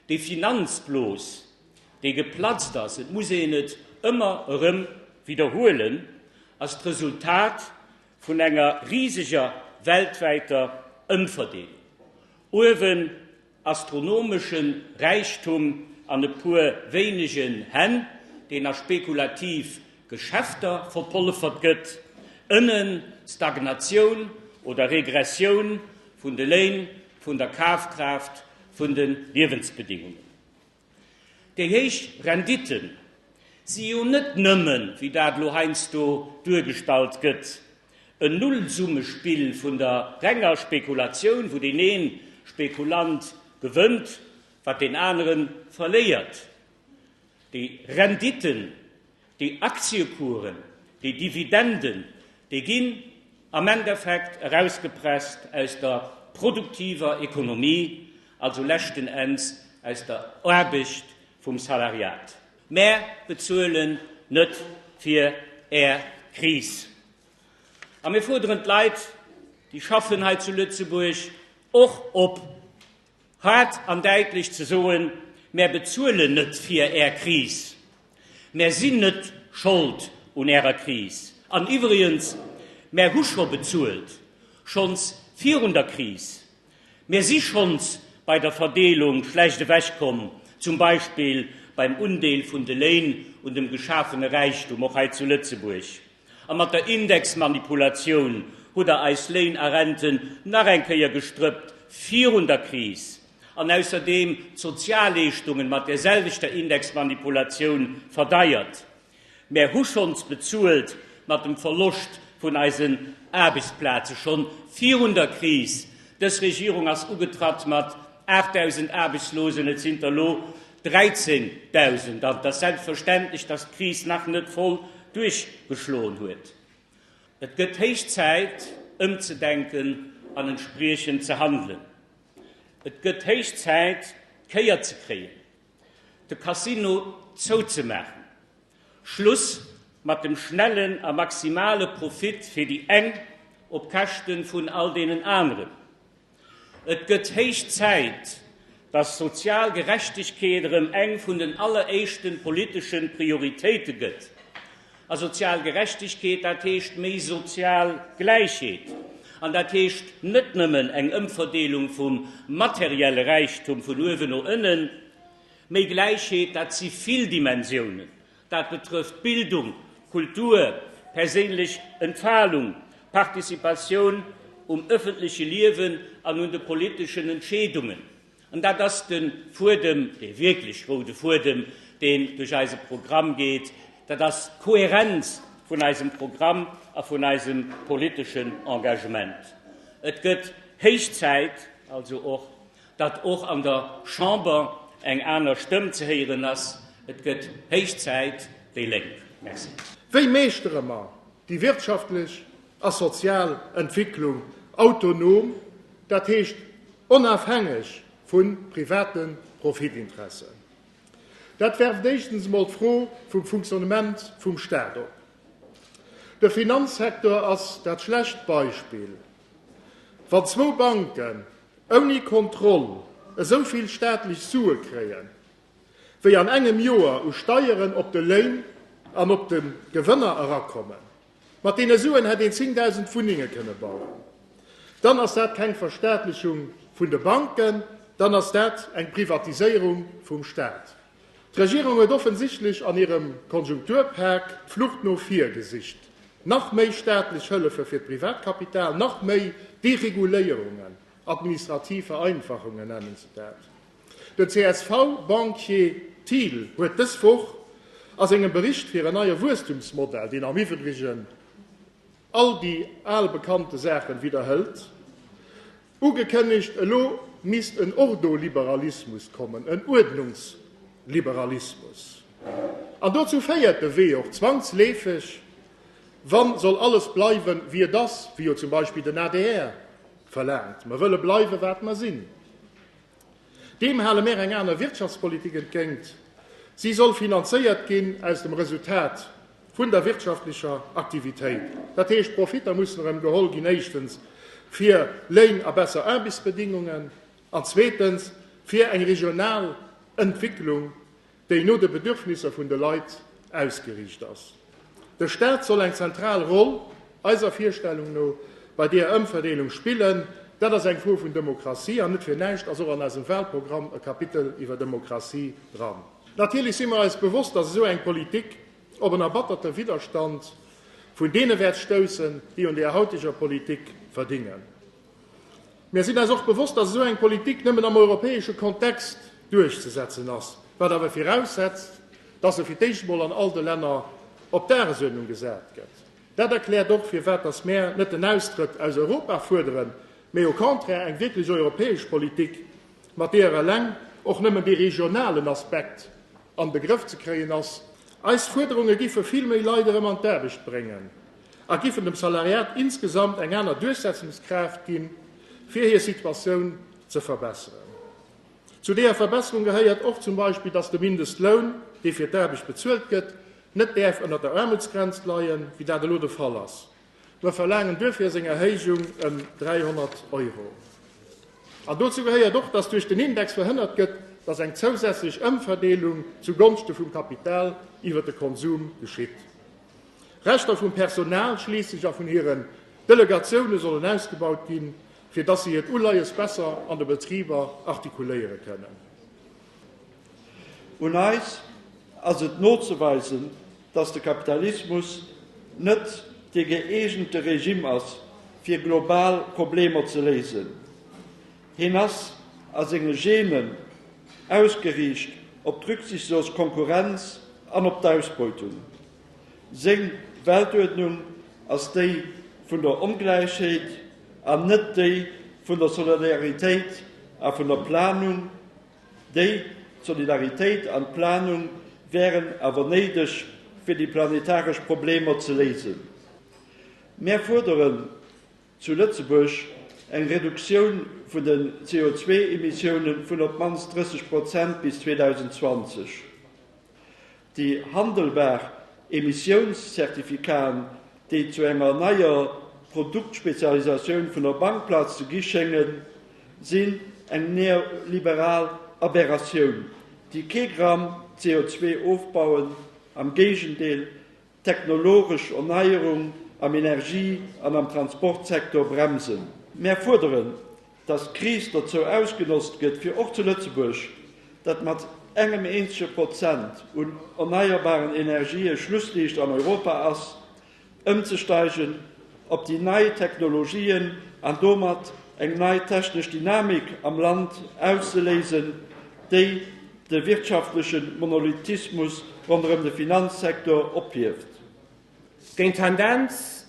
Déi Finanzblos, déi geplatzt ass, et muss een et ëmmer erëm widderhuelen, ass d'Resultat vun enger riseger weltwäiter Ëmverdeelung. Uewen astronomesche Räichtum an e puer wéinegen Hänn, deen a spekulativ Geschäfter verpollefert gëtt, ënnen Stagnatioun oder Regressioun vun de Léin, vun der Kafkraaft vun de Liewensbedingungen. Déi héich Rendite si jo net nëmmen, wéi dat elo heiansdo duergestallt gëtt, en Nullsummespill vun der renger Spekulatioun, wou deen ee Spekulant gewënnt, wat deen anere verléiert. Déi Renditen Déi Aktiekuren, déi Dividenden, déi ginn am Endeffekt erausgepresst aus der produktiver Ekonomie, also leschten Enns aus der Aarbecht vum Salariat. Mär bezuelen net fir Är Kris. A mir fuerderen d'Leit, déi schaffen hei zu Lëtzebuerg, och op, Haart an däitlech ze soen, Mär bezuelen net fir Är Kris, mär sinn net Schold un Ärer Kris. An iwwregens, mär hu scho bezuelt, schonns virun der Kris. Mir si schonns bei der Verdeelung schlecht ewech komm, zum Beispill beim Undeel vun de Léin un dem geschafene Räichtum, och hei zu Lëtzebuerg. A mat der Indexmanipulatioun hutt Der eis Léin a Renten nach eng Kéier gestrëppt virun der Kris, an ausserdeem d'Sozialleeschtungen mat där selwechter Indexmanipulatioun verdeiert. Mär hu schonns bezuelt mat dem Verloscht vun eisen Aarbechtsplaze schonn virun der Kris. Dës Regierung ass ugetratt mat 8.000 Aarbechtslosen, et sinn der elo 13.000 an. Et ass selbstverständlech, dass d'Kris nach net voll duerchgeschloen huet. Et gëtt héich Zäit, ëmzedenken an entspriechend ze handelen. Et gëtt héich Zäit, d'Kéier ze kréien, de Casino zouzemaachen, Schluss mat dem schnellen a maximale Profit fir déi eng op Käschte vun all deenen aneren. Et gëtt héich Zäit, dass sozial Gerechtegkeet erëm eng vun den alleréischten politeschen Prioritéite gëtt. A sozial Gerechtegkeet, dat heescht méi sozial Gläichheet. An dat heescht net nëmmen eng Ëmverdeelung vum materielle Räichtum vun uewen no ënnen. Méi Gläichheet, dat si vill Dimensiounen. Dat betrëfft Bildung, Kultur, perséinlech Entfalung, Participatioun um ëffentleche Liewen an un de politeschen Entscheedungen. An dat ass de Fuedem, dee wierklech roude Fuedem, deen duerch eise Programm geet. Dat ass d'Kohärenz vun eisem Programm a vun eisem politeschen Engagement. Et gëtt héich Zäit also och, datt och an der Chamber eng aner Stëmm ze héieren ass. Et gëtt héich Zäit, déi Lénk. Merci. Wéi meeschtere mer déi wirtschaftlech a sozial Entwicklung autonom, dat heescht onafhängeg vu private Profitinteressen? Dat werft éischtens emol d'Fro vum Funktionnement vum Staat op. De Finanzsektor ass dat schlecht Beispill. Wann zwou Banken ouni Kontroll esou vill staatlech Sue kréien, wéi an engem Joer u Steieren op de Léin an op de Gewënner erakommen, mat deene Suen hätt een 10.000 Wunnenge kënne bauen, dann ass dat keng Verstaatlechung vun de Banken, dann ass dat eng Privatiséierung vum Staat. D'Regierung huet offensichtlech an hirem Konjunkturpak d'Flucht no vir gesicht, nach méi staatlech Hëllefe fir d'Privatkapital, nach méi Dereguléierungen, administrativ Vereinfachungen nennen se dat. Den CSV-Banquier Thiel huet dës Woch a sengem Bericht fir en neie Wuesstumsmodell, deen am Iwwregen all déi al bekannte Saachen widderhëlt, Ugekënnegt, elo misst en Ordoliberalismus kommen, en Uerdnungsliberalismus. An dozou féiert de Wee och zwangsleefeg, wa soll alles bleiwen, wéi et ass, wéi jo zum Beispill den adr verlaangt, mer wëlle bleiwen, wat mer sinn. Deem hale mär eng aner Wirtschaftspolitik entgéint. Si soll finanzéiert ginn aus dem Resultat vun der wirtschaftlecher Aktivitéit. Dat heescht, d'Profitter mussen erëm geholl ginn, éischtens fir Léin a besser Aarbechtsbedingungen an zweetens fir eng regional Entwicklung, déi no de Bedürfnisser vun de Leit ausgeriicht ass. De Staat soll eng zentral Roll, eiser Virstellung no, bei deeër Ëmverdeelung spillen. Dat ass eng Fro vun Demokratie, an net fir näischt ass och an eisem Wahlprogramm e Kapitel iwwer Demokratie dran. Natierlech si mer eis bewosst, dass esou eng Politik op en erbatterte Widderstand vun deene wäert stoussen, déi un deeër hautiger Politik verdingen. Mir sinn eis och bewosst, dass esou eng Politik nëmmen am europäesche Kontext duerchzesetzen ass, wat awer viraussetzt, dass se fir d'éischt emol an all de Länner op d'Dagesuerdnung gesat gëtt. Dat erkläert och, firwat dass mär net den Austrëtt aus Europa fuerderen, mee au contraire eng wierklech europäesch Politik, mat deeër eleng och nëmmen dee regionalen Aspekt an de Grëff ze kréien ass. Eis Fuerderunge giffe vill méi Leit erëm an d'Aarbecht bréngen. a giffen dem Salariat insgesamt eng aner Duerchsetzungskraaft ginn, fir hir Situatioun ze verbesseren. Zu deeër Verbesserung gehéiert och zum Beispill, dass de Mindestloun, dee fir d'Aarbecht bezuelt gëtt, net däerf ënnert der Aarmutsgrenz leien, wéi dat elo de Fall ass. Mer verlaangen duerfir seng Erhéijung ëm 300 Euro. An dozou gehéiert och, dass duerch den Index verhënnert gëtt, dass eng zousätzlech Ëmverdeelung zu Gonschte vum Kapital iwwert de Konsum geschitt. Rechter vum Personal, schliisslech a vun hiren Delegatioune sollen ausgebaut ginn, fir datt se hiert Uleies besser an de Betriber artikuléiere kënnen. Un eis ass et nozeweisen, datt de Kapitalismus net dee gëeegente Regimm ass, fir global Problemer ze léisen. Hien ass a senge Genen ausgeriicht op d'rücksichtslos Konkurrenz an op d'Ausbeutung. Seng Weltuerdnung ass déi vun der Ongläichheet an net déi vun der Solidaritéit a vun der Planung. Déi Solidaritéit an d'Planung wären awer néideg fir déi planetaresch Problemer ze léisen. Mär fuerderen zu Lëtzebuerg eng Reduktioun vun den CO2-Emissiounen vun op d'mannst 30 Prozent bis 2020. Déi handelbar Emissiounszertifikaten, déi zu enger neier Produktspezialisatioun vun der Bankplaz ze gi schéngen, sinn eng neoliberal Aberratioun, déi kee Gramm CO2 ofbauen, am Géigendeel, Technologesch Erneierung am Energie an am Transportsektor bremsen. Mär fuerderen, dass d'Kris dozou ausgenotzt gëtt, fir och zu Lëtzebuerg, dat mat engem eenzege Prozent un erneierbaren Energië Schlussliicht an Europa ass, ëmzesteigen op déi nei Technologien an domat eng nei technesch Dynamik am Land auszeléisen, déi. de wirtschaftleche Monolithismus ronderëm de Finanzsektor ophieft. Géint d'Tendenz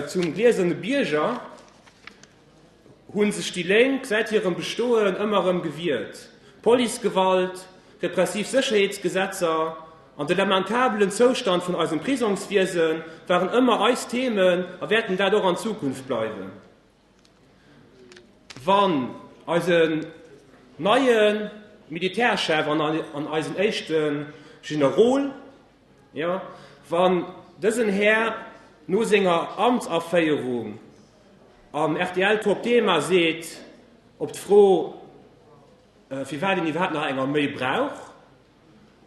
zum gläserne Bierger hu sech déi Lénk säit hirem Bestoen ëmmer erëm gewiert. Policegewalt, repressiv Sécherheetsgesetzer an de lamentabelen Zoustand vun eisem Prisongswiese waren ëmmer eis Themen a wäerten dat och an Zukunft bleiwen. Wann eisen neie Militärchef an eisen éischte Generol, jo, wann dësen Här no senger Amtsaféierung am rtl Top Thema seet op d'Fro, firwat een iwwerhaapt nach eng Arméi brauch,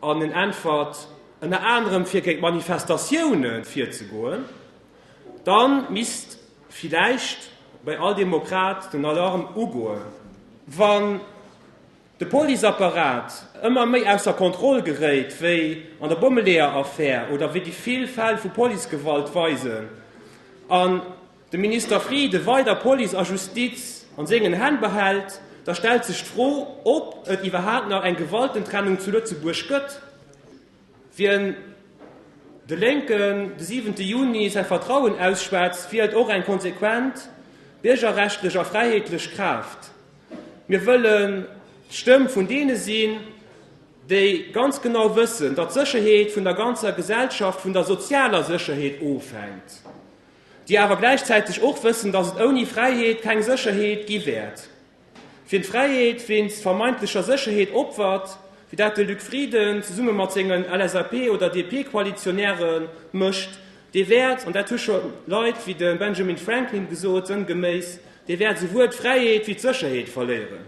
An en äntwert, Ënner anerem fir géint Manifestatioune virzegoen. Dann misst villäicht bei all Demokrat den Alarm ugoen. Wann de Policeapparat ëmmer méi ausser Kontroll geréit, wéi an der Bommeleeër-Affär oder wéi déi vill Fäll vu Policegewalt weisen, an de Minister Frieden weider Police a Justiz an sengen Hänn behält, da stellt sech d'Fro, ob et iwwerhaapt nach eng Gewaltentrennung zu Lëtzebuerg gëtt. Wien de Lénken de siwente Juni säi Vertrauen ausschwätzt, wielt och eng konsequent biergerrechtlech a fräiheetlech Kraaft. Mir wëllen d'Stëmm vun deene sinn, déi ganz genau wëssen, datt d'Sécherheet vun der ganzer Gesellschaft, vun der sozialer Sécherheet ofhänkt. déi awer gläichzäiteg och wëssen, datt et ouni Fräiheet keng Sécherheet gi wäert, wien d'Fräiheet wéinst vermeintlecher Sécherheet opfert, wéi dat de Luc Frieden zesumme mat sengen LSAP oder DP-Koalitionäre mécht, dee wäert, an dat hu scho Leit wéi de Benjamin Franklin gesot, sënngeméiss, dee wäert esouwuel d'Fräiheet wéi d'Sécherheet verléieren.